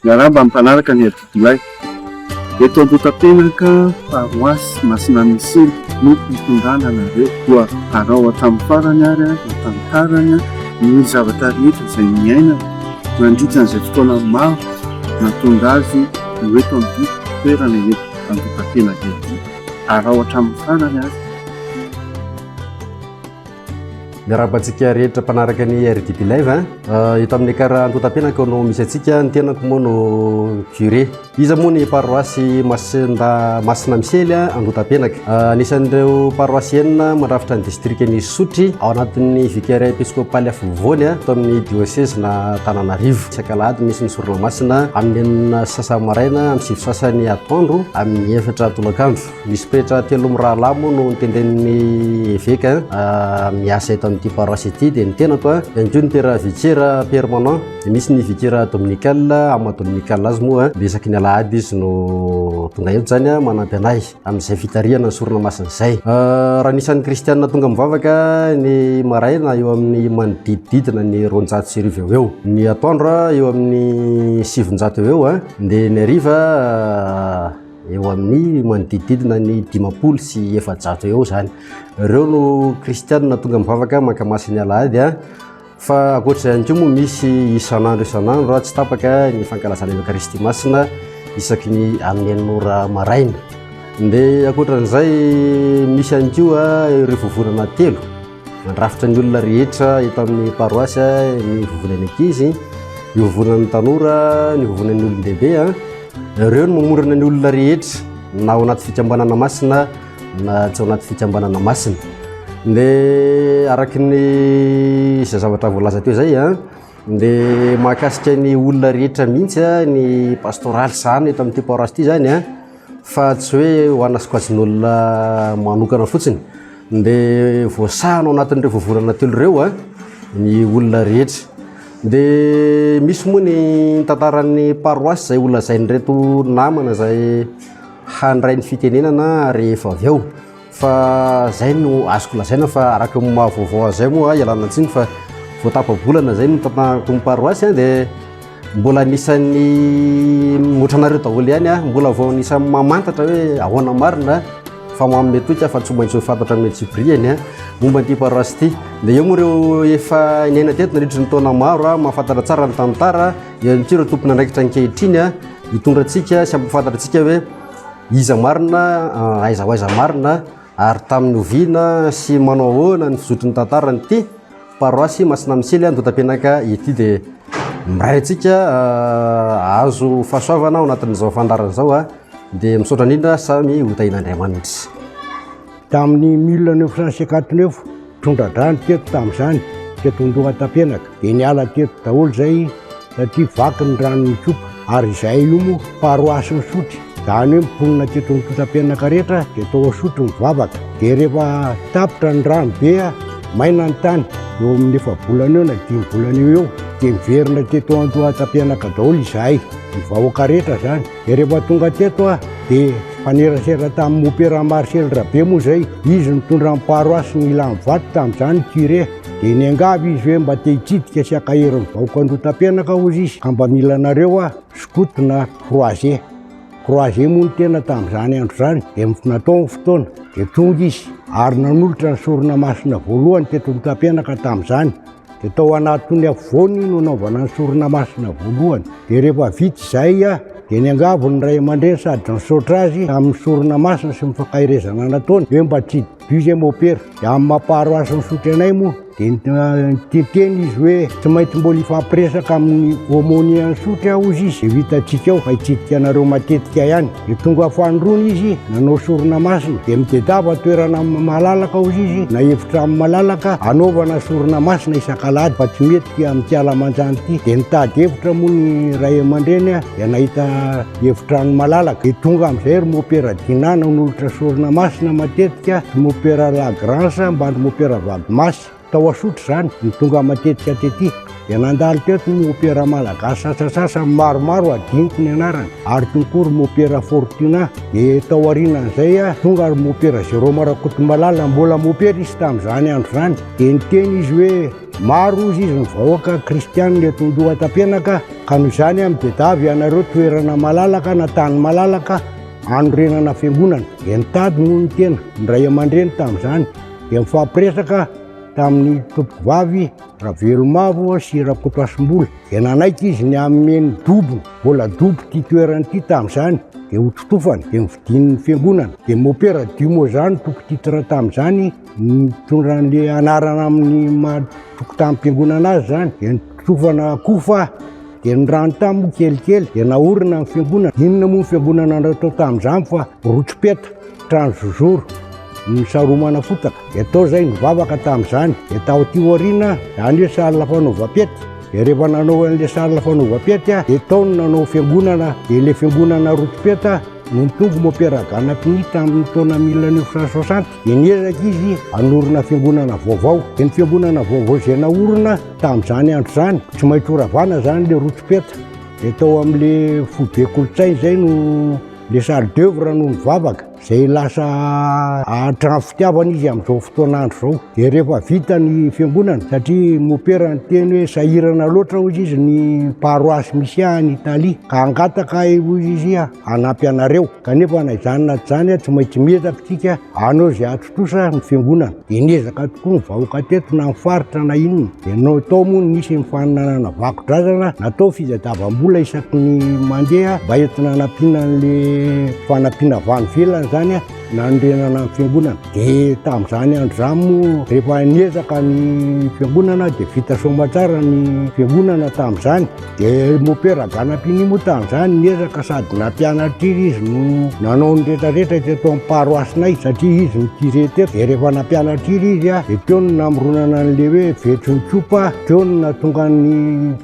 Miarahaba ny mpanaraka ny adidilahy. Eto Ambotapenaka, paroasy Masinamesily no hitondrana anareo. Koa arao hatramin'ny farany ary ny tantarany, ny zavatra rehetra izay niainany nandritra an'izay fotoana maro nahatonga azy ho eto amin'ity toerana eto Ambotapenaka ity. Arao hatramin'ny farany ary. Miarahaba antsika rehetra mpanaraka ny RDB Live. Eto amin'ny kara antotam-piainako no misy antsika, ny tenako moa no curé. Iza moa ny paroasy Masinda Masina Misely antotam-piainaka. Anisan'ireo paroasy enina mandrafitra ny distrikan'i Isotry ao anatin'ny vicariat episkopaly afovoany eto amin'ny diocèse na Tananarivo. Isaka alahady misy ny sorona masina amin'ny enina sasany maraina, amin'ny sivy sasany atoandro, amin'ny efatra tolakandro. Misy pretra telo mirahalahy moa no notendren'ny eveka miasa eto amin'ity paroasy ity, dia ny tenako a, ihany koa ny pera vikera permanent, dia misy ny vikera dominical, amin'ny maha dominical azy moa dia isaky ny alahady izy no tonga eto, izany a manampy anay amin'izay fitarihana ny sorona masina izay. Raha ny isan'ny kristiana tonga mivavaka ny maraina eo amin'ny manodidididina ny roanjato sy arivo eo ho eo, ny atoandro eo amin'ny sivinjato eo ho eo, dia ny hariva. Eo amin'ny manodidididina ny dimampolo sy efajato eo izany. Ireo no kristianina tonga mivavaka mankamaso ny alahady a. Fa ankoatr'izany koa moa misy isan'andro isan'andro raha tsy tapaka ny fankalazana ny Eucharistie Masina isaky ny amin'ny enina ora maraina. Dia ankoatran'izay misy ihany koa ireo vovonana telo. Mandrafitra ny olona rehetra eto amin'ny paroasy ny vovonan'ny ankizy, ny vovonan'ny tanora, ny vovonan'ny olon-dehibe. Ireo no mamorona ny olona rehetra na ao anaty fikambanana masina na tsy ao anaty fikambanana masina. Dia araka ny izay zavatra voalaza teo izay a, dia mahakasika ny olona rehetra mihitsy ny pastoraly sahanina eto amin'ity paroasy ity izany a. fa tsy hoe ho ana sokajin'olona manokana fotsiny dia voasahana ao anatin'ireo voavolana telo ireo a ny olona rehetra dia misy moa ny tantaran'ny paroasy izay holazain'ireto namana izay handray ny fitenenana rehefa avy eo Fa zay no azoko lazaina fa araka ny maha vaovao azy zay moa ialana tsiny fa vao tapa-bolana zay no tantanako ny paroasy dia mbola anisan'ny otranareo daholo ihany aho mbola vao anisan'ny mamantatra hoe ahoana marina fa manome toika fa tsy maintsy ho fantatra amin'ny antsipiriany a momba an'ity paroasy ity dia eo moa ireo efa niaina teto nandritry ny taona maro a mahafantatra tsara ny tantara ihany koa ireo tompon'andraikitra ankehitriny a hitondra antsika sy hampahafantatritsika hoe Iza marina, aiza ho aiza marina, ary tamin'ny oviana sy manao ahoana ny fizotry ny tantaran'ity paroasy Masinamisily Andohatapenaka ity dia miray antsika hahazo fahasoavana ao anatin'izao fandaharana izao dia misaotra indrindra samy ho tahian'Andriamanitra. Tamin'ny mille neuf cent cinquante neuf, tondra-drano teto tamin'izany, teto Andohatapenaka, dia niala teto daholo izay satria vaky ny rano nikopa. Ary izahay io moa paroasin'i Sotry, izany hoe mponina teto Andohatapenaka rehetra dia tao Sotry mivavaka. Dia rehefa tapitra ny rano be, maina ny tany, eo amin'ny efa-bolana eo na dimy volana eo ho eo, dia niverina teto Andohatapenaka daholo izahay, ny vahoaka rehetra izany. Dia rehefa tonga teto aho dia nifanerasera tamin'i Mopera Marcel Rabe moa izay, izy nitondra ny paroasy ny Ilanivato tamin'izany ny curé, dia niangavy izy hoe mba te hitsidika sy hankahery ny vahoaka Andohatapenaka hozy izy ka mba mila anareo aho, Scout na Croisé. Croisé moa no tena tamin'izany andro izany dia natao ny fotoana dia tonga izy ary nanolotra ny sorona masina voalohany teto Andohatapenaka tamin'izany. Dia tao anatin'ny afovoany no anaovana ny sorona masina voalohany. Dia rehefa vita izay, dia niangavy ny ray aman-dreny sady nisaotra azy tamin'ny sorona masina sy ny fankaherezana nataony hoe mba tsy Dieu izay môpera. Dia amin'ny maha paroasy misotry anay moa dia niteny izy hoe tsy maintsy mbola hifampiresaka amin'ny aumônier nisotry hozy izy, dia ho hitantsika eo fa hitsidika anareo matetika ihany. Dia tonga fahandroana izy, nanao sorona masina, dia midedava toerana amin'ny malalaka ao izy, na efitra amin'ny malalaka, hanaovana sorona masina isan-kalahady fa tsy mety amin'ity alamanjany ity. Dia nitady efitra moa ny ray aman-dreny, dia nahita efitrano malalaka. Dia tonga amin'izay ry mopera Dinana, nolotra sorona masina matetika, ry mopera Lagrange ambany ry mopera Vagmas. Tao Asotry izany, ny tonga matetika tety dia nandalo teto ny opera malagasy sasasasany maromaro adinoko ny anarany ary teo koa ry Mopera Fortuna dia tao aorianan'izay tonga ry Mopera Jérôme Rakotomalala mbola Mopera izy tamin'izany andro izany dia niteny izy hoe maro ozy izy ny vahoaka kristianina eto Andohatapenaka ka noho izany amin'ny bedavy ianareo toerana malalaka na tany malalaka anorenana fiangonana dia nitady noho ny tena ny ray aman-dreny tamin'izany dia nifampiresaka tamin'ny tompovavy Ravelomavo sy Rakotoasimbola dia nanaiky izy ny hanome ny dobo, mbola dobo ity toerana ity tamin'izany, dia ho totofana, dia novidian'ny fiangonana. Dia Mopera Dimo izany toko titre tamin'izany, nitondra an'ilay anarana amin'ny maha tokotanim-piangonana azy izany, dia nitotofana kofa, dia ny rano tany moa kelikely, dia naorina ny fiangonana. Inona moa ny fiangonana natao tamin'izany fa rotso-peta. Trano zozoro, ny saromana fotaka. Dia tao izay nivavaka tamin'izany. Dia tao aty aoriana, izany hoe salle fanaovam-pety. Dia rehefa nanao an'ilay salle fanaovam-pety, dia tao no nanao fiangonana. Dia ilay fiangonana Rotompeta no nitombo Mopera Ganapini tamin'ny taona mille neuf cent soixante. Dia niezaka izy hanorina fiangonana vaovao. Dia ny fiangonana vaovao izay naorina tamin'izany andro izany, tsy maintsy horavana izany ilay Rotompeta. Dia tao amin'ilay foibe kolontsaina izay no. Le chef d'oeuvre no nivavaka, zay lasa ahatran fitiavana izy amzao fotoana andro zao, de rehefa vita ny fiangonana, satria mopera niteny hoe sahirana loatra ozy izy ny paroasy misy ahy any Italia, ka hangataka ahy ozy izy hanampy anareo, kanefa na izany na tsy izany tsy maintsy miezaka tsika hanao ze kosa ny fiangonana dia niezaka tokoa ny vahoaka teto na ny faritra na inona dia no tao moa nisy ny fananana vakodrazana natao fizadavam-bola isaky ny mandeha mba entina anampiana an'le fanampiana avy any velona izany a nanorenana ny fiangonana dia tamin'izany andro izany moa rehefa niezaka ny fiangonana dia vita soamantsara ny fiangonana tamin'izany Dia mopera ganapini moa tamin'izany niezaka sady nampianatry izy no nanao ny rehetrarehetra teto amin'ny paroasinay satria izy no curé teto dia rehefa nampianatry izy dia teo no namoronana an'ilay hoe vetrin'ny tsopa teo no nahatonga ny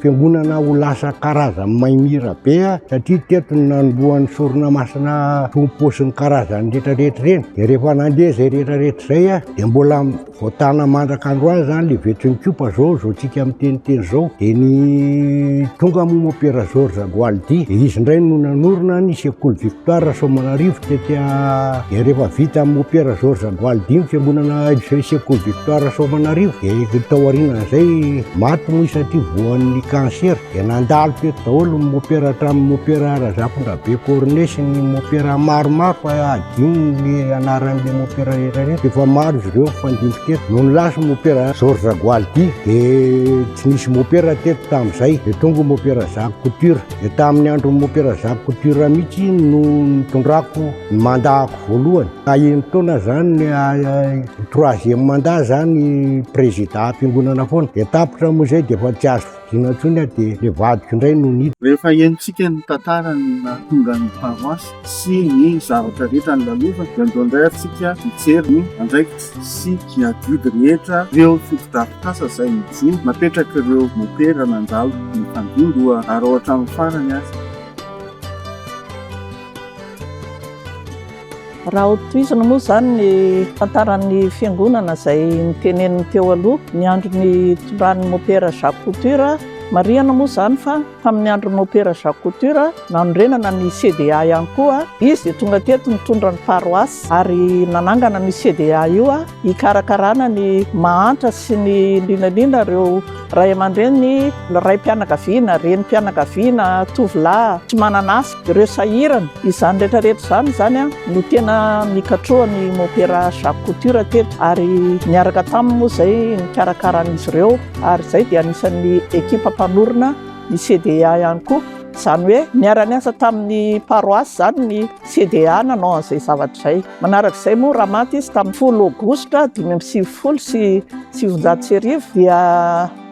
fiangonana ho lasa karazan'ny maimira be satria teto no nanombohan'ny sorona masina tompo sy ny karazan'ny rehetrarehetra ireny dia rehefa nandeha izay rehetrarehetra izay dia mbola Vao tana mandraka androany zany le vetrin'ny kopa zao, zao tsika miteniteny zao, de ny tonga moa moa Pera George Agualdi, de izy ndray no nanorina ny sekoly Victoire Rasoamanarivo tety a, de rehefa vita amin'i Pera George Agualdi ny fiangonana sekoly Victoire Rasoamanarivo, de tao aorianan'izay maty moa izy satria voan'ny cancer. Dia nandalo teto daholo ny mopera hatramin'ny mopera Razafindrabe Cornet sy ny mopera maromaro fa hadino ny anaran'ilay mopera rehetra ireny. Dia efa maro izy ireo mifandimby teto. Nony lasa mopera Georges Gualdi dia tsy nisy mopera teto tamin'izay. Dia tonga mopera Jacques Couture. Dia tamin'ny andron'ny mopera Jacques Couture mihitsy no nitondrako ny mandako voalohany. Aheno taona izany ny ah, ah, troisième mandat izany président am-piangonana foana. Dia tapitra moa izay dia efa tsy azo Inona intsony aho dia ilay vadiko indray no niditra. Rehefa henontsika ny tantara ny nahatonga ny paroasy sy ny zavatra rehetra nolalofany dia andao indray atsika hijery ny andraikitra sy ny adidy rehetra ireo fotodrafitrasa izay nijoro napetrak'ireo mopera nandalo ny tandindoha ary ao hatramin'ny farany aza Raha ho tohizina moa izany ny tantaran'ny fiangonana izay niteneniny teo aloha, ny andron'ny nitondran'ny mopera Jacques Couture, marihana moa izany fa tamin'ny andron'ny mopera Jacques Couture, nanorenana ny CDA ihany koa. Izy dia tonga teto nitondra ny paroasy ary nanangana an'io CDA io hikarakarana ny mahantra sy ny lianaliana ireo ray aman-dreny, raim-pianakaviana, renim-pianakaviana, tovolahy tsy manana asa. Ireo sahirana. Izany rehetra rehetra izany izany no tena nikatroha ny Mopera Jacques Couture teto ary niaraka taminy moa izay nikarakara an'izy ireo ary izay dia anisan'ny ekipa mpanorina ny CDA ihany koa. Izany hoe niara-niasa tamin'ny paroasy izany ny CDA nanao an'izay zavatra izay. Manaraka izay moa raha maty izy tamin'ny folo aogositra dimy amby sivifolo sy sivinjato sy arivo dia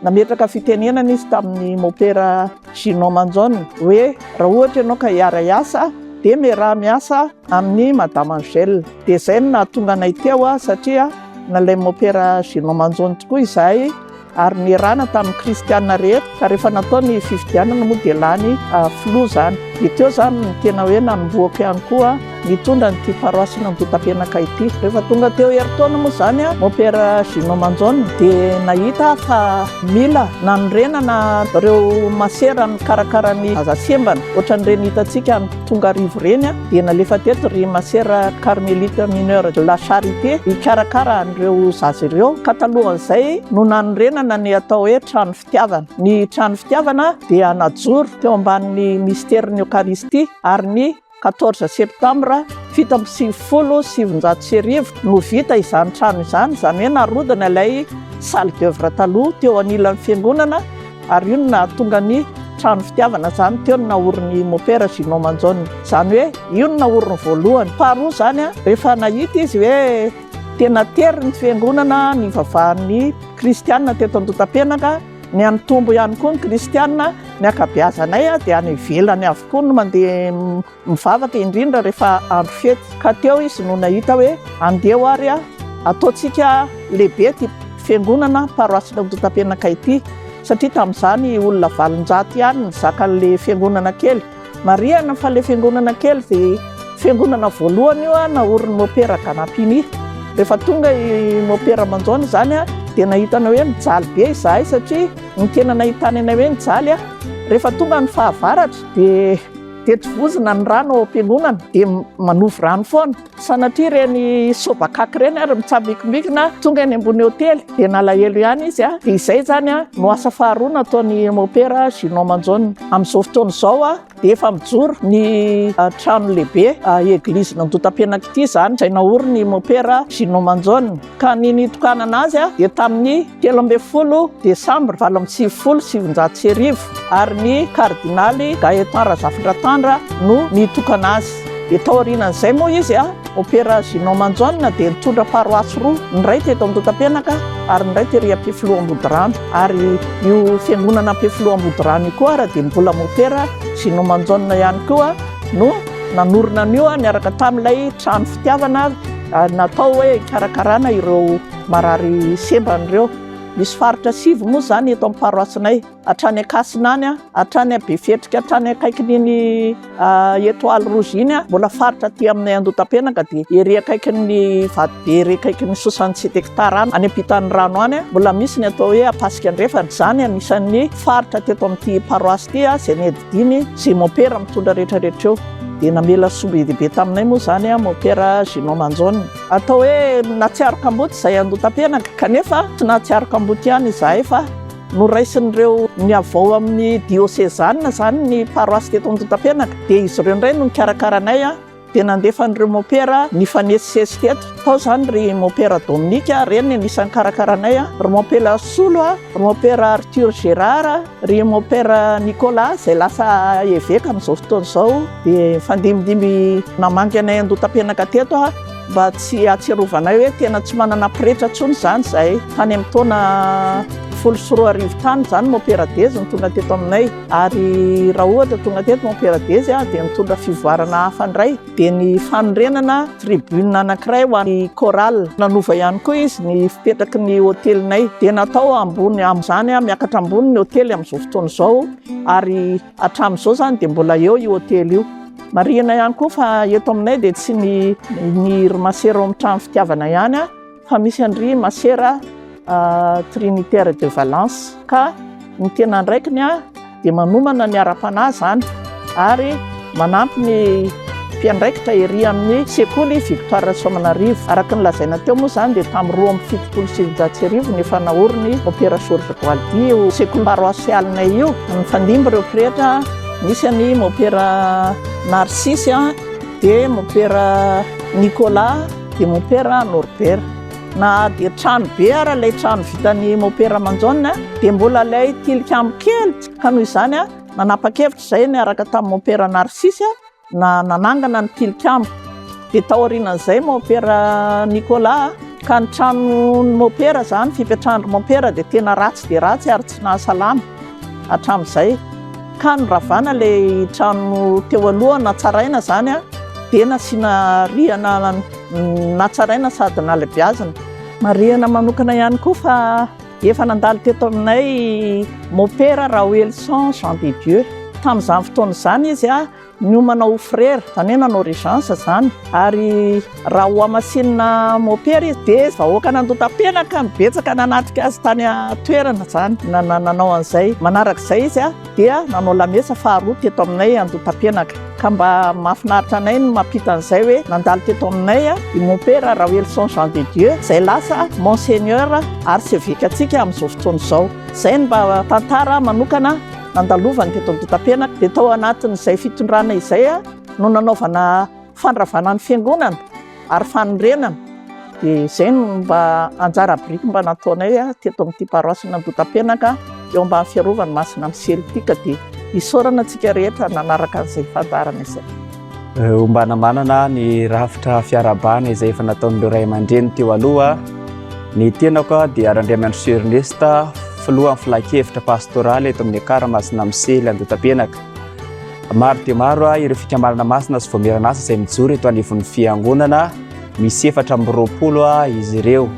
nametraka fitenenana izy tamin'ny Mopera Gino Manzon, hoe raha ohatra ianao ka hiara-hiasa dia miaraha miasa amin'i Madame Angèle. Dia izay no nahatonga anay teo satria nalain'i Mopera Gino Manzon tokoa izahay ary nierahana tamin'ny kristiana rehetra ka rehefa natao ny fifidianana moa dia lany filoha izany. Dia teo izany no tena hoe nanombohako ihany koa. Nitondra an'ity paroasina Antotapenaka ity. Rehefa tonga teo herintaona moa izany a, Mopera Gino Manjaona dia nahita aho fa mila nanorenana ireo masera mikarakara ny zaza sembana, ohatran'ireny hitantsika any Tongarivo ireny a, dia nalefa teto ry masera Carmelite Mineur de la Charité hikarakara an'ireo zaza ireo, ka talohan'izay no nanorenana ny atao hoe Trano Fitiavana. Ny Trano Fitiavana dia najoro teo ambanin'ny Misterin'ny Eokaristia ary ny. 14 septambra fito amby sivifolo sy sivinjato sy arivo no vita izany trano izany, izany hoe narodana ilay salle d'oeuvre taloha teo anilan'ny fiangonana ary io no nahatonga ny trano fitiavana izany teo no naorin'ny mopera Ginot Manjaona. Izany hoe io no naoriny voalohany. Faharoa izany rehefa nahita izy hoe tena tery ny fiangonana nivavahan'ny kristianina teto Andotapenaka, Ny an'i Tombo ihany koa ny kristiana, ny ankabeazanay dia any ivelany avokoa no mandeha mivavaka indrindra rehefa andro fety. Ka teo izy no nahita hoe andeha ary ataontsika lehibe ity fiangonana paroasin'i Antontapenaka ity satria tamin'izany olona valonjato ihany nizaka an'ilay fiangonana kely. Marihana fa ilay fiangonana kely dia fiangonana voalohany io naorin'ny mopera Ganapini. Rehefa tonga i mopera Manjaona izany dia nahitana hoe mijaly be izahay satria ny tena nahitana anay hoe mijaly. Rehefa tonga ny fahavaratra dia teto vozona ny rano ao am-piangonana dia manovo rano foana. Sanatria ireny sobakaky ireny ary mitsambikimbiky tonga eny ambony hotely dia nalahelo ihany izy a! Dia izay izany a! No asa faharoa nataon'i Mopera Ginot Manjaona. Amin'izao fotoana izao a! Dia efa mijoro ny trano lehibe, Eglise Nandotam-piainako ity izany, izay naorin'i Mopera Ginot Manjaona. ka ny nitokanana azy dia tamin'ny telo ambin'ny folo desambra valo amby sivifolo sy sivinjato sy arivo ary ny kardinaly Gaëtan Razafindratandra no nitokana azy. Dia tao aorianan'izay moa izy a Opéra Ginot Manjaona dia nitondra paroasy roa, ny iray teto Andotapenaka ary ny iray tery Ampefiloha Ambodirano ary io fiangonana Ampefiloha Ambodirano io koa ary dia mbola Opéra Ginot Manjaona ihany koa no nanorina an'io niaraka tamin'ilay trano fitiavana Natao hoe hikarakarana ireo marary sembany ireo. Misy faritra sivy moa izany eto amin'ny paroasinay, hatrany Ankasina any, hatrany Befetrika, hatrany akaikin'iny Etoile Rouge iny, mbola faritra aty aminay Andotapenaka dia ery akaikin'ny Vatobe ery akaikin'ny Soixante sept hectares any, any ampitan'ny rano any, mbola misy ny atao hoe Ampasika Andrefana. Izany anisan'ny faritra teto amin'ity paroasy ity izay nodidiany izay mompera mitondra rehetra rehetra eo. Dia namela soa be dia be taminay moa izany an, Mopera Gino Manjon. Atao hoe nahatsiaro kamboty izay andotam-piainako, kanefa tsy nahatsiaro kamboty ihany izahay fa noraisin'ireo niavao amin'ny diosezanina izany ny paroasy teto Andotam-pianaka. Dia izy ireo indray no nikarakara anay an, dia nandefa an'ireo mopera nifanesisesy teto. Tao izany ry mopera Dominique, ireny no anisan'ny nikarakara anay an, ry mopera Solo an, ry mopera Arthur Gérard. Ry mon père Nicolas izay lasa eveka amin'izao fotoana izao dia nifandimidimby namangy anay an-dota-penaka teto aho mba tsy hahatsiarovanay hoe tena tsy manana pretra intsony izany izahay. Tany amin'ny taona folo sy roa arivo tany izany mon père Dezy no tonga teto aminay ary raha ohatra tonga teto mon père Dezy dia nitondra fivoarana hafa indray. dia ny fanorenana tribune anankiray ho an'ny chorale. Nanova ihany koa izy ny fipetraky ny hotelinay, dia natao ambony amin'izany, miakatra ambony ny hotely amin'izao fotoana izao, ary hatramin'izao izany dia mbola eo io hotely io. Marihina ihany koa fa eto aminay dia tsy ny ny Irma Serum Trano Fitiavana ihany, Fa misy an-dry masera Trinitaire de Valence ka ny tena andraikiny dia manomana ny ara-panahy izany ary manampy ny mpiandraikitra ery amin'ny sekoly Victoire Rasoamanarivo. Araka ny lazaina teo moa izany dia tamin'ny roa amby fitopolo sy sivinjato sy arivo no efa naorin'ny Opéra Georges Boaldi io sekoly paroasialinay io. Nifandimby ireo pretra, nisy an'i Mopera Narcisse dia Mopera Nicolas. dia mopera Norbert. Na dia trano be ara ilay trano vitan'ny mopera Manjaona dia mbola ilay tilikambo kely ka noho izany nanapa-kevitra izay niaraka tamin'ny mopera Narsisy na nanangana ny tilikambo. Dia taorian'izay mopera Nicolas ka ny tranon'ny mopera izany fipetrahan'ny mopera dia tena ratsy dia ratsy ary tsy nahasalama. hatramin'izay ka noravana ilay trano teo aloha natsaraina izany dia nasiana rihana natsaraina sady nalebiazina. Marihina manokana ihany koa fa efa nandalo teto aminay mopera Raoelison Jean de Dieu tamin'izany fotoana izany izy Miomana ho frera, izany hoe nanao régence izany, ary raha hohamasinina mopera izy dia vahoaka nandotam-penaka no betsaka nanatrika azy tany an-toerana izany, nanao an'izay. Manaraka izay izy dia nanao lamesa faharoa teto aminay andotam-penaka, ka mba mahafinaritra anay ny mampita an'izay hoe nandalo teto aminay i mopera Raoelison Jean de Dieu izay lasa Monseigneur Arsevekantsika amin'izao fotoana izao. Izay no mba tantara manokana. nandalovany teto Ampitampenak dia tao anatin'izay fitondrana izay no nanaovana fandravana ny fiangonana ary fanorenana dia izay no mba anjara biriky mba nataonay teto amin'ity paroasina Ampitampenak eo ambany fiarovany masina amin'ny celtic dia isaorana antsika rehetra nanaraka an'izay fandaharana izay. Ombana manana ny rafitra fiarahabana izay efa nataon'ireo ray aman-dreny teo aloha. Ny tenako dia Randriamanitro Ernest, filohan'ny filankevitra pastoraly eto amin'ny Ekar Masina Misely Andotapenaka. Maro dia maro ireo fikambanana masina sy voamiran'asa izay mijoro eto anivon'ny fiangonana, misy efatra amby roapolo izy ireo.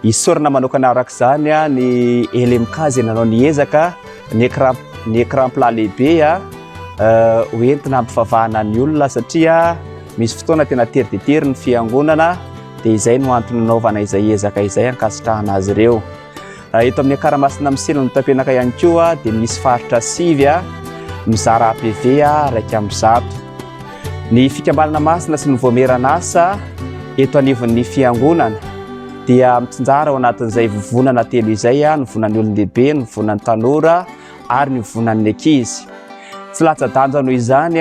Isaorana manokana araka izany ny LMK izay nanao ny ezaka, ny écran ny écran plat lehibe ho entina hampivavahana ny olona satria misy fotoana tena tery dia tery ny fiangonana dia izay no antony nanaovana izay ezaka izay hankasitrahana azy ireo. Eto amin'ny Akaramasina Misela no Tapenaka ihany koa dia misy faritra sivy mizara APV raika amby zato. Ny fikambanana masina sy ny voamieran'asa eto anivon'ny fiangonana dia mitsinjara ao anatin'izay vovonana telo izay, ny vonan'ny olon-dehibe, ny vonan'ny tanora ary ny vonan'ny ankizy. Tsy latsa-danja noho izany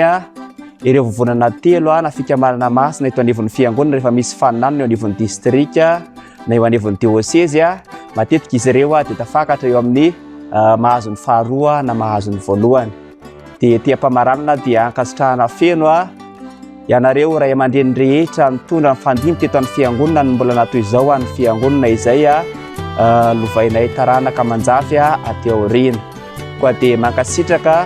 ireo vovonana telo na fikambanana masina eto anivon'ny fiangonana rehefa misy faninanana eo anivon'ny distrika na eo anivon'ny diosezy. Matetika izy ireo dia tafakatra eo amin'ny mahazo ny faharoa na mahazo ny voalohany. dia ety am-pamaranana dia ankasitrahana feno a ianareo ray aman-dreny rehetra nitondra ny fandimby teto amin'ny fiangonana ny mbola natoy izao an'ny fiangonana izay a lovainay taranaka manjafy a aty aoriana koa dia mankasitraka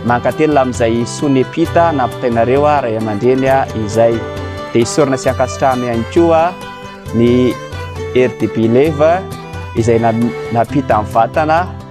mankatelina amin'izay sonia epita nampitainareo a ray aman-dreny a izay dia isorana sy ankasitrahana ihany koa ny RDB Leva izay napita amin'ny vatana